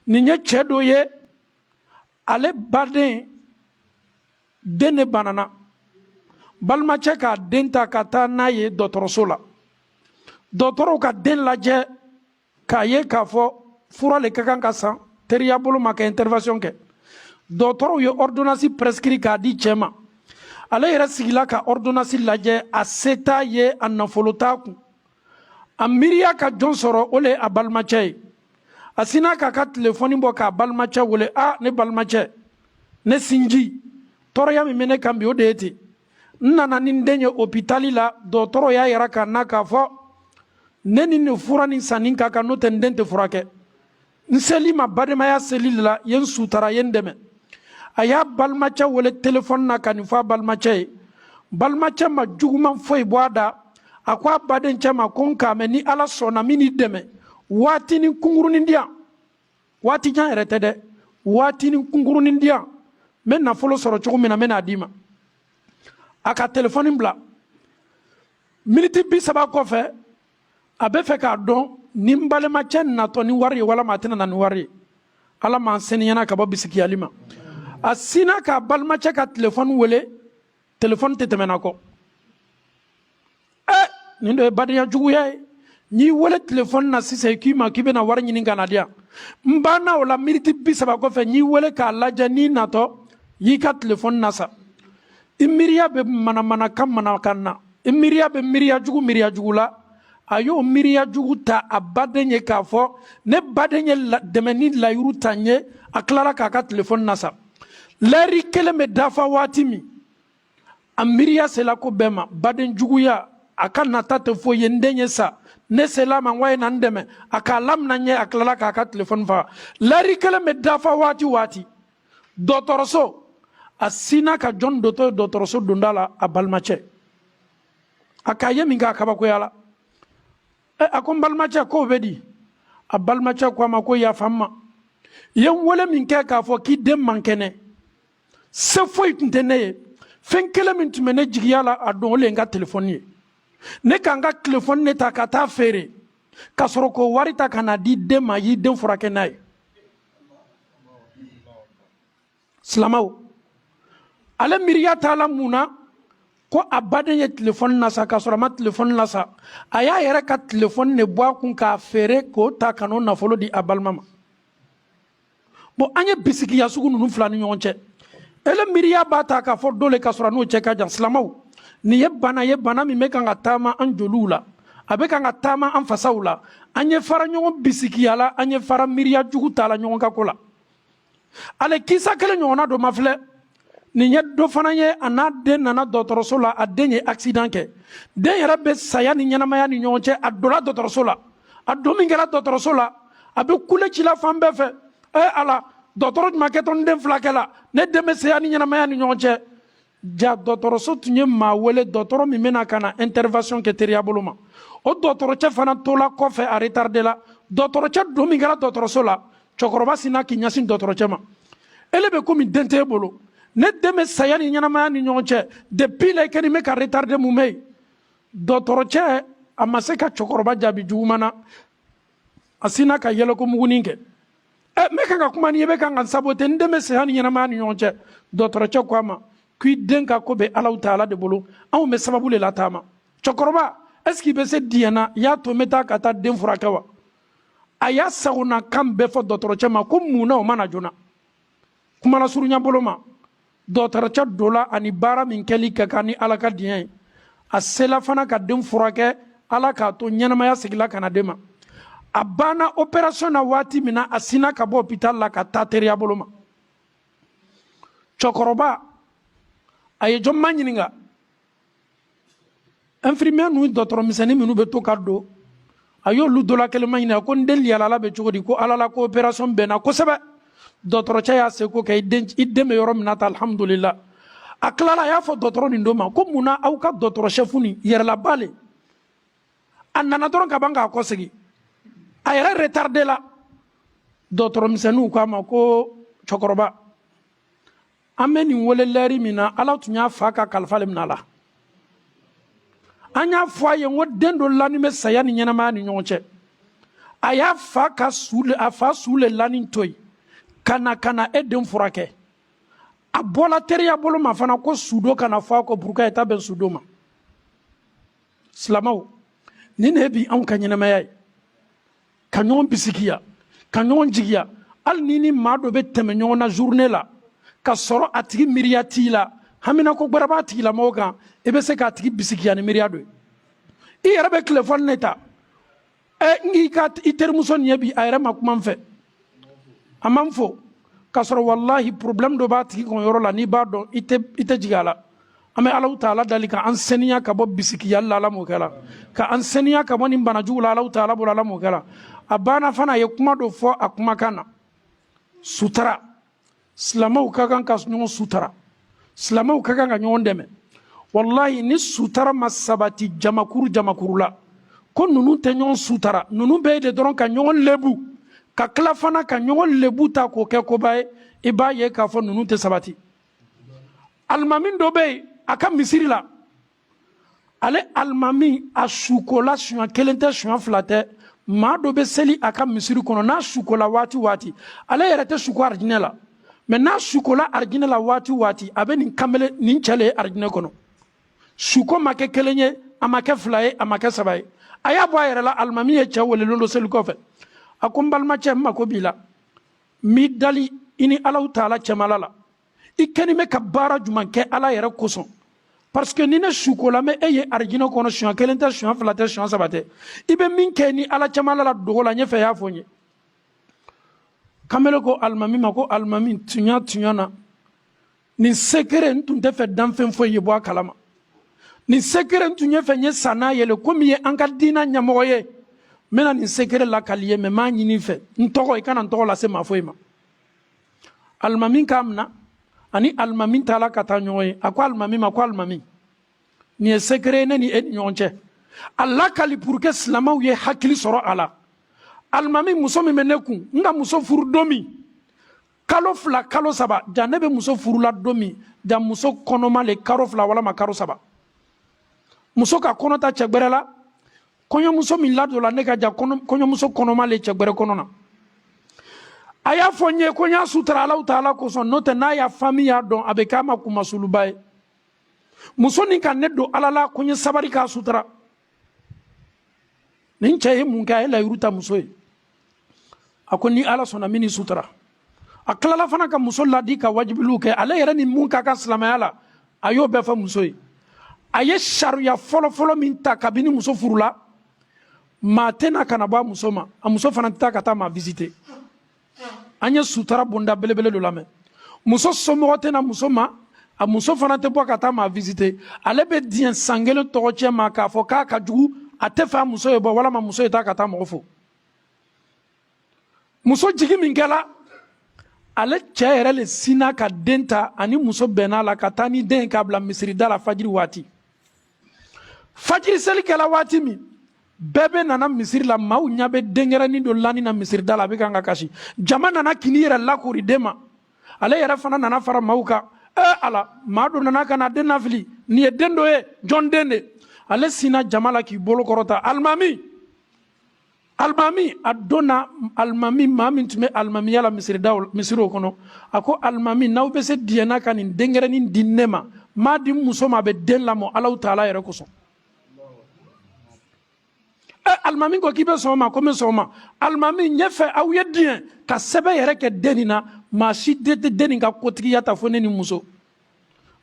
nin ye cɛ dɔ ye ale baden den ne banana balimacɛ k'a den ta ka taa n'a ye dɔgɔtɔrɔso la dɔgɔtɔrɔw ka den lajɛ k'a ye k'a fɔ fura le ka kan ka san teriya bolo ma ka intervention kɛ dɔgɔtɔrɔw ye ordonnance prescrit k'a di cɛ ma ale yɛrɛ sigila ka ordonnance lajɛ a se t'a ye a nafolo t'a kun a miiriya ka jɔn sɔrɔ o le ye a balimacɛ ye a sinna k'a ka telefɔni bɔ k'a balimacɛ wele a ne balimacɛ ne sinji tɔɔrɔya min bɛ ne kan bi o de ye ten n nana ni n den ye opitali la dɔgɔtɔrɔ y'a yira k'a na k'a fɔ ne ni nin fura nin sanni ka kan n'o tɛ n den tɛ furakɛ n sel'i ma badenmaya seli de la ye n sutara ye n dɛmɛ a y'a balimacɛ wele telefɔni na ka nin fɔ a balimacɛ ye balimacɛ ma juguman foyi bɔ a da a ko a badencɛ ma ko n k'a mɛn ni ala sɔnna n bɛ n'i dɛmɛ waatinin kunkurunin di yan waati jan yɛrɛ tɛ dɛ waatinin kunkurunin di yan n bɛ nafolo sɔrɔ cogo min na n bɛ n'a d'i ma a ka telefɔni bila miniti bi saba kɔfɛ a bɛ fɛ k'a dɔn ni n balimacɛ natɔ ni wari ye walama a tɛna na ni wari ye ala m'an seniyana ka bɔ bisigiyali ma a sinna k'a balimacɛ ka telefɔni wele telefɔni tɛ tɛmɛna ko ɛ nin dɔ ye badenya juguya ye n'i wele telefɔni na sisan i k'i ma k'i bɛna wari ɲini ka na di yan n banna o la miniti bi saba kɔfɛ n'i wele k'a lajɛ n'i natɔ y'i ka telefɔni nasa i miiriya bɛ manamanakan manakan na i miiriya bɛ miiriya jugu miiriya jugu la a y'o miiriya jugu ta a baden ye k'a fɔ ne baden ye dɛmɛni layiru ta n ye a tilara k'a ka telefɔni nasa lɛri kelen bɛ dafa waati min a miiriya sela ko bɛɛ ma baden juguya a ka nata tɛ foyi ye n den ye sa ne sel'a ma n ko a ye na n dɛmɛ a k'a lamina n ye a tilala k'a ka telefɔni faga lɛri kelen bɛ dafa waati waati dɔgɔtɔrɔso a sinna ka jɔn dontɔ ye dɔgɔtɔrɔso donda la a balimacɛ a k'a ye min kɛ a kabakoyala ɛ a ko n balimacɛ ko bɛ di a balimacɛ ko a ma ko yafa n ma i ye n wele min kɛ k'a fɔ k'i den man kɛnɛ se foyi tun tɛ ne ye fɛn kelen min tun bɛ ne jigiya la a don o le ye n ka telefɔni ye ne ka n ka telefɔni ne ta ka taa feere ka sɔrɔ k'o wari ta ka na di den ma y'i den furakɛ n'a ye silamɛw ale miiriya taala mun na ko a baden ye telefɔni nasa k'a sɔrɔ a ma telefɔni nasa a y'a yɛrɛ ka telefɔni de bɔ a kun k'a feere k'o ta ka n'o nafolo di a balima ma bon an ye bisigiya sugu ninnu fil'an ni ɲɔgɔn cɛ ele miiriya b'a ta k'a fɔ dɔ le k'a sɔrɔ a n'o cɛ ka jan silamɛw nin ye bana ye bana min bɛ kan ka taama an joliw la a bɛ kan ka taama an fasaw la an ye fara ɲɔgɔn bisikiya la an ye fara miiriya jugu ta la ɲɔgɔn ka ko la ale kisa kelen ɲɔgɔnna dɔ ma filɛ nin ye dɔ fana ye a n'a den nana dɔgɔtɔrɔso la a den ye accident kɛ den yɛrɛ bɛ saya ni ɲɛnamaya ni ɲɔgɔn cɛ a donna dɔgɔtɔrɔso la a don min kɛra dɔgɔtɔrɔso la a bɛ kule ci la fan bɛɛ fɛ ee ala dɔgɔtɔrɔ jumɛn kɛtɔ n den filakɛ la ne den bɛ saya ni ɲɛnamaya ni ɲɔgɔn cɛ ja dɔgɔtɔrɔso tun ye maa wele dɔgɔtɔrɔ min bɛna ka na intervention kɛ teriya bolo ma o dɔgɔtɔrɔcɛ fana tola kɔfɛ a retardela dɔgɔtɔrɔcɛ don min kɛra dɔgɔtɔrɔso la cɛkɔrɔba sinna k'i ɲɛsin dɔgɔtɔrɔcɛ ma e le bɛ komi den t'e bolo ne den bɛ saya ni ɲɛnamaya ni ɲɔgɔn cɛ depuis la i kɛnin bɛ ka retarde mun bɛ yen dɔgɔtɔrɔcɛ a ma se ka cɛkɔrɔba jaabi juguman na a sinna ka yɛlɛkomugunin kɛ ɛ n bɛ kan ka kuma n'i ye i bɛ kan ka n sabote n den bɛ saya ni ɲɛnamaya ni ɲɔgɔn cɛ dɔgɔtɔrɔcɛ ko a ma ko i den ka ko bɛ alahu taala de bolo anw bɛ sababu le lataama cɛkɔrɔba est ce que i bɛ se diɲɛ na i y'a to n bɛ taa ka taa den furakɛ wa a y'a sagonakan bɛɛ fɔ dɔgɔtɔrɔcɛ ma ko mun na o ma na joona kumalasurunya bolo ma dɔgɔtɔrɔcɛ dola ani baara min kɛli ka kan ni ala ka diɲɛ ye a sela fana ka den furakɛ ala k'a to ɲɛnamaya segila ka na den ma a banna opération na waati min na a sinna ka bɔ hopital la ka taa teriya bolo ma cɛkɔrɔba a ye jɔn maɲininka infirmière ninnu dɔgɔtɔrɔ misɛnnin minnu bɛ to ka don a y'olu dɔ la kelen maɲininka ko n den lahala bɛ cogo di ko ala la ko opération bɛnna kosɛbɛ dɔgɔtɔrɔcɛ y'a seko kɛ i den bɛ yɔrɔ min na tan alhamdulila a tilala a y'a fɔ dɔgɔtɔrɔ nin dɔ ma ko mun na aw ka dɔgɔtɔrɔ sɛfu nin yɛrɛlaba le a nana dɔrɔn ka ban ka kɔsegi a yɛrɛ retardela dɔgɔtɔrɔ misɛnninw k'a ma ko cɛkɔrɔba an bɛ nin wele lɛri min na ala tun y'a fa ka kalifa le minɛ a la an y'a fɔ a ye ko den dɔ lanin bɛ saya ni ɲɛnamaya ni ɲɔgɔn cɛ a y'a fa ka su le a fa su le lanin to yen ka na ka na e den furakɛ a bɔla teriya bolo ma fana ko sudon kana fɔ a kɔ buruka ye taa bɛn sudon ma silamɛw nin de ye bi anw ka ɲɛnamaya ye ka ɲɔgɔn bisikiya ka ɲɔgɔn jigiya hali ni ni maa dɔ bɛ tɛmɛ ɲɔgɔn na journée la ka sɔrɔ a tigi miiriya t'i la haminako gbɛrɛ b'a tigilamɔgɔ kan i bɛ se k'a tigi bisikiya ni miiriya dɔ ye i yɛrɛ bɛ telefɔni ne ta ɛ n k'i ka i terimuso nin ye bi a yɛrɛ ma kuma n fɛ a ma n fo k'a sɔrɔ walahi problème dɔ b'a tigi kun yɔrɔ la n'i b'a dɔn i tɛ i tɛ jigin a la an bɛ alahu taala dali ka an saniya ka bɔ bisikiyali la ala m'o kɛla ka an saniya ka bɔ nin bana jugu la alahu taala bolo ala m'o kɛla a banna fana a ye kuma dɔ fɔ a kumakan na sutara silamɛw ka kan ka ɲɔgɔn sutara silamɛw ka kan ka ɲɔgɔn dɛmɛ walayi ni sutara ma sabati jamakuru jamakuru la ko ninnu tɛ ɲɔgɔn sutara ninnu bɛ yen le dɔrɔn ka ɲɔgɔn lebu ka tila fana ka ɲɔgɔn lebu ta k'o kɛ koba ye i b'a ye k'a fɔ ninnu tɛ sabati alimami dɔ bɛ yen a ka misiri la ale alimami a sukola suɲa kelen tɛ suɲa fila tɛ maa dɔ bɛ seli a ka misiri kɔnɔ n'a sukola waati waati ale yɛrɛ tɛ suko arijinɛ la mɛ n'a sukola arijinɛ la waati waati a bɛ nin kamele nin cɛ le ye arijinɛ kɔnɔ suko ma kɛ kelen ye a ma kɛ fila ye a ma kɛ saba ye a y'a bɔ a yɛrɛ la alimami ye cɛ wele lon dɔ seli kɔfɛ a ko n balimacɛ n mako b'i la n b'i dali i ni alahu taala cɛmala la i kɛni bɛ ka baara juman kɛ ala yɛrɛ kosɔn parce que ni ne sukola n bɛ e ye arijinɛ kɔnɔ siɲɛ kelen tɛ siɲɛ fila tɛ siɲɛ saba tɛ i bɛ min kɛ ni ala cɛmala la dogo la n y'a fɛ i y'a fɔ n ye kamele ko alimami ma ko alimami tuɲa tuɲa na nin sekere n tun tɛ fɛ danfɛn foyi ye bɔ a kalama nin sekere n tun ye fɛ n ye sa n'a ye le komi i ye an ka diina ɲɛmɔgɔ ye n bɛna nin sekere lakali i ye mɛ n b'a ɲini i fɛ n tɔgɔ i kana n tɔgɔ lase maa foyi ma alimami k'a minɛ ani alimami taala ka taa ɲɔgɔn ye a ko alimami ma ko alimami nin ye sekere ne ni e ni ɲɔgɔn cɛ a lakali pour que silamɛw ye hakili sɔrɔ a la alimami muso min bɛ ne kun n ka muso furu don min kalo fila kalo saba ja ne bɛ muso furula don min ja muso kɔnɔma le kalo fila walama kalo saba muso ka kɔnɔ ta cɛ gbɛrɛ la kɔɲɔmuso min ladonla ne ka ja kɔɲɔmuso kɔnɔma le cɛ gbɛrɛ kɔnɔ na a y'a fɔ n ye ko n y'a sutara alahu taala kosɔn n'o tɛ n'a ya famille y'a dɔn a bɛ k'a ma kunmasuluba ye muso nin ka ne don ala la ko n ye sabari k'a sutara nin cɛ ye mun kɛ a ye layiru ta muso ye a ko ni ala sɔnna n bɛn'i sutara a tilala fana ka muso ladi ka wajibilu kɛ ale yɛrɛ ni mun ka kan silamɛya la a y'o bɛɛ fɔ muso ye a ye sariya fɔlɔfɔlɔ min ta kabini muso furula maa tɛ na ka na bɔ a muso ma a muso fana tɛ taa ka taa maa visiter an ye sutara bonda belebele dɔ lamɛn muso somɔgɔ tɛ na muso ma a muso fana tɛ bɔ ka taa maa visiter ale bɛ diɲɛ san kelen tɔgɔcɛn ma k'a fɔ k'a ka jugu a tɛ fɛ a muso ye bɔ walama muso ye taa ka taa mɔgɔ fo muso jigi min kɛla ale cɛ yɛrɛ le sinna ka den ta a ni muso bɛnna a la ka taa ni den ye k'a bila misirida la fajiri waati fajiri seli kɛla waati min bɛɛ bɛ nana misiri la maaw ɲɛ bɛ denkɛrɛnin dɔ lanin na misirida la a bɛ kan ka kasi jama nana ka n'i yɛrɛ lakori den ma ale yɛrɛ fana nana fara maaw kan ee ala maa dɔ nana ka na den nafili nin ye den dɔ ye jɔn den de ale sinna jama la k'i bolo kɔrɔta alimami alimami a donna alimami maa min tun bɛ alimamiya la misiridaw misiriw kɔnɔ a ko alimami n'aw bɛ se diɲɛna ka nin denkɛrɛnin di ne ma m'a di n muso ma a bɛ den lamɔ alaw taala yɛrɛ kosɔn ɛ alimami ko k'i bɛ sɔn o ma ko n bɛ sɔn o ma alimami ɲɛfɛ aw ye diɲɛ ka sɛbɛn yɛrɛ kɛ den nin na maa si wɛrɛ tɛ den nin ka kotigiya ta fo ne ni muso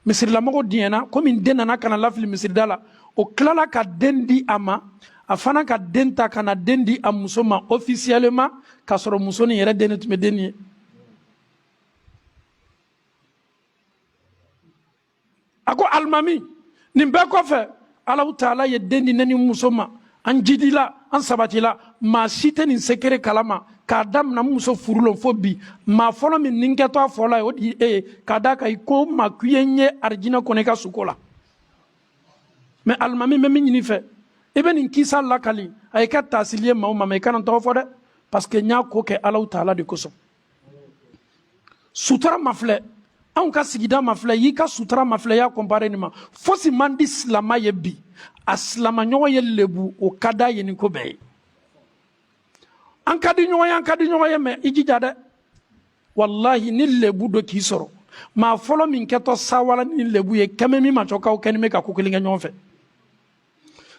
misirilamɔgɔw diɲɛna komi den nana ka na lafili misirida la o tilala ka den di a ma a fana ka den ta ka na den di a muso ma officiellement k'a sɔrɔ muso nin yɛrɛ den de tun bɛ den nin ye a ko alimami nin bɛɛ kɔfɛ alaw taala ye den di ne ni muso ma an jidila an sabatila maa si tɛ nin secret kala ma k'a damina n muso furulon fo bi maa fɔlɔ min nin kɛtɔ a fɔla ye o de e ye k'a da kan i ko n ma k'i ye n ye arijinɛ kɔnɔ i ka suko la mɛ alimami n bɛ min ɲini i fɛ i bɛ nin kisa lakali a ye kɛ taasili ye maaw ma mɛ i kana n tɔgɔ fɔ dɛ parce que n y'a ko kɛ alaw taala de kosɔn sutura mafilɛ anw ka sigida mafilɛ y'i ka sutura mafilɛ y'a compare nin ma fosi man di silama ye bi a silamaɲɔgɔn ye lebu o ka d'a ye ni ko bɛɛ ye an ka di ɲɔgɔn ye an ka di ɲɔgɔn ye mɛ i jija dɛ walahi ni lebu dɔ k'i sɔrɔ maa fɔlɔ min kɛtɔ sawala ni lebu ye kɛmɛ min ma cɔ k'aw kɛnin bɛ ka ko kelen kɛ ɲɔgɔn fɛ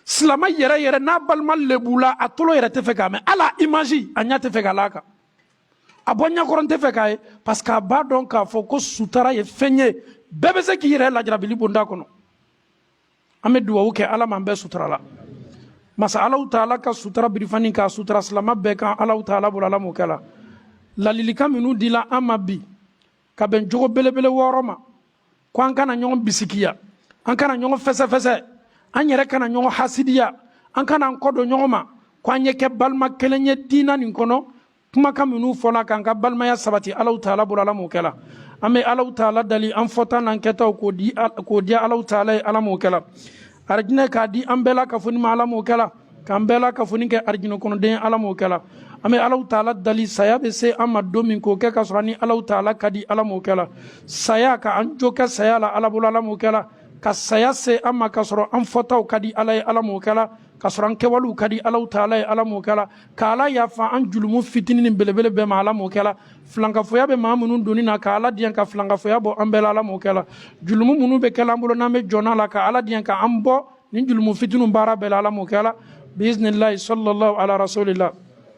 silama yɛrɛ yɛrɛ n'a balima lebula a tolo yɛrɛ tɛ fɛ k'a mɛn hal'a image a ɲɛ tɛ fɛ k'a la a kan a bɔ n ɲɛkɔrɔ n tɛ fɛ k'a ye parce que a b'a dɔn k'a fɔ ko sutara ye fɛn ye bɛɛ bɛ se k'i yɛrɛ lajarabili bonda kɔnɔ an bɛ duwawu kɛ ala m'an bɛɛ sutura la masa alaw taala ka sutara birifani k'a sutara silama bɛɛ kan alaw taala bolo ala m'o kɛla ladilikan minnu dila an ma bi ka bɛn jogo belebele wɔɔrɔ ma ko an kana ɲɔgɔn bisikiya an kana ɲɔgɔn fɛsɛfɛsɛ an yɛrɛ kana ɲɔgɔn hasidiya an kana an kɔ don ɲɔgɔn ma ko an ye kɛ balima kelen ye diina nin kɔnɔ kumakan minnu fɔla k'an ka balimaya sabati alaw taala bolo ala m'o kɛla an bɛ alaw taala dali an fɔta n'an kɛtaw k'o di k'o diya alaw taala ye ala m'o kɛla arijinɛ k'a di an bɛɛ lakafonin ma ala m'o kɛla k'an bɛɛ lakafonin kɛ arijinɛ kɔnɔden ala m'o kɛla an bɛ alaw taala dali saya bɛ se an ma don min k'o kɛ ka sɔrɔ an ni alaw taala ka di ala m'o kɛla saya ka an jo kɛ saya la ala bolo ala m'o kɛla ka saya se an ma ka sɔrɔ an fɔtaw ka di ala ye ala m'o kɛla ka sɔrɔ an kɛwalew ka di alaw taala ye ala m'o kɛla ka ala yafa an julumu fitinin ni belebele bɛɛ ma ala m'o kɛla filankafoya bɛ maa minnu donni na ka ala diɲɛ ka filankafoya bɔ an bɛɛ la ala m'o kɛla julumu minnu bɛ kɛla an bolo n'an bɛ jɔn a la ka ala diɲɛ ka an bɔ nin julumu fitiniw baara bɛɛ la ala m'o kɛla biiznilahi salalahu ala rasulila